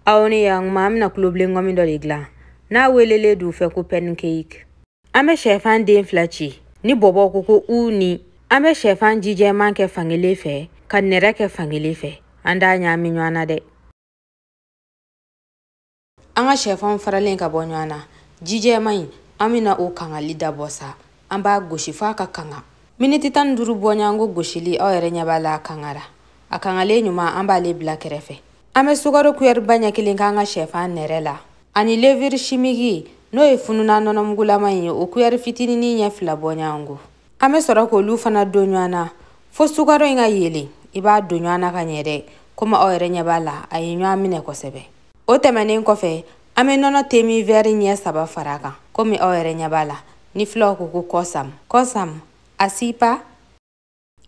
Aw ni yan kuma an bɛna kulobilen ŋɔmi dɔ de dilan n'a welelen don u fɛ ko pɛnikeiki an bɛ shɛfan den fila ci ni bɔbɔw ko ko u ni an bɛ shɛfan jijɛman kɛ fankelen fɛ ka nɛrɛ kɛ fankelen fɛ an t'a ɲaami ɲɔgɔn na dɛ an ka shɛfanw faralen ka bɔ ɲɔgɔn na jijɛman in an bɛna o kangali dabɔ sa an b'a gosi f'a ka kanga miniti tan ni duuru bɔ ɲɔgɔn ko gosili aw yɛrɛ ɲɛ b'a la a kangara a kangalen ɲuman an b'ale bila kɛrɛfɛ an bɛ sukaro kuyɛri ba ɲɛ kelen k'an ka shɛfan nɛrɛ la ani leviri shimiki n'o ye fununan nɔnɔmugulama ye o kuyɛri fitinini ɲɛ fila bɔ ɲɔgɔn ko an bɛ sɔrɔ k'olu fana don ɲɔgɔn na fo sukaro in ka yelen i b'a don ɲɔgɔn na ka ɲɛ dɛ komi aw yɛrɛ ɲɛ b'a la a ye ɲɔgɔn minɛ kosɛbɛ o tɛmɛnen kɔfɛ an bɛ nɔnɔ temi vɛri ɲɛ saba fara a kan komi aw yɛrɛ ɲɛ b'a la ni filaw ko ko kɔsam kɔsam a sipa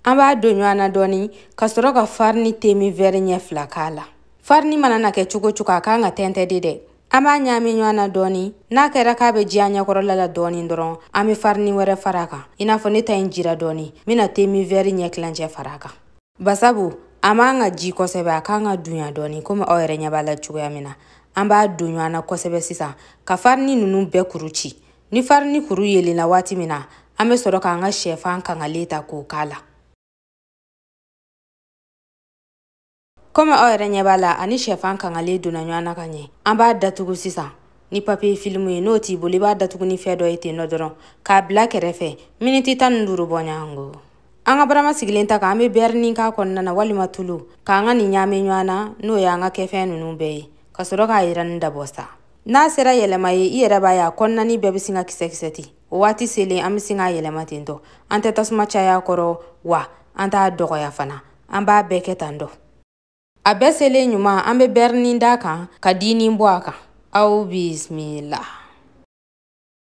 an b'a don ɲɔgɔn na dɔɔni ka sɔrɔ ka farini temi vɛri ɲɛ fila k'a la farini mana na kɛ cogo o cogo a kan ka tɛntɛ de dɛ an b'a ɲaami ɲɔgɔn na dɔɔni n'a kɛra k'a bɛ ji an ɲɛkɔrɔla la dɔɔni dɔrɔn an bɛ farini wɛrɛ fara a kan i n'a fɔ ne ta in jira dɔɔni n bɛna temi vɛri ɲɛ tilancɛ fara a kan basabu a man kan ka ji kosɛbɛ a kan ka dunya dɔɔni komi aw yɛrɛ ɲɛ b'a la cogoya min na an b'a don ɲɔgɔn na kosɛbɛ sisan ka farini ninnu bɛɛ kuru ci ni farini kuru yelenna waati min na an bɛ sɔrɔ k'an ka shɛfan kangalen ta k'o k'a la komi aw yɛrɛ ɲɛ b'a la ani shɛfan kangalen donna ɲɔgɔn na ka ɲɛ an b'a datugu sisan ni papiye filimu ye n'o t'i bolo i b'a datugu ni fɛn dɔ ye ten nɔ dɔrɔn k'a bila kɛrɛfɛ miniti tan ni duuru bɔ ɲɔgɔn ko an ka barama sigilen ta kan an bɛ bɛrinin k'a kɔnɔna na walima tulu k'an ka nin ɲaami ɲɔgɔn na n'o y'an ka kɛfɛn ninnu bɛɛ ye ka sɔrɔ k'a yiranni dabɔ sa n'a sera yɛlɛma ye i yɛrɛ b'a ye a kɔnɔnanin bɛɛ bɛ sin ka kisɛ-kisɛ ten o waati selen an bɛ sin k'a yɛlɛma ten tɔ an tɛ tasuma caya a kɔrɔ wa an t'a dɔgɔya fana an b'a bɛɛ kɛ tan dɔ a bɛɛ selen ɲuman an bɛ bɛrinin d'a kan ka dinin bɔ a kan aw bisimila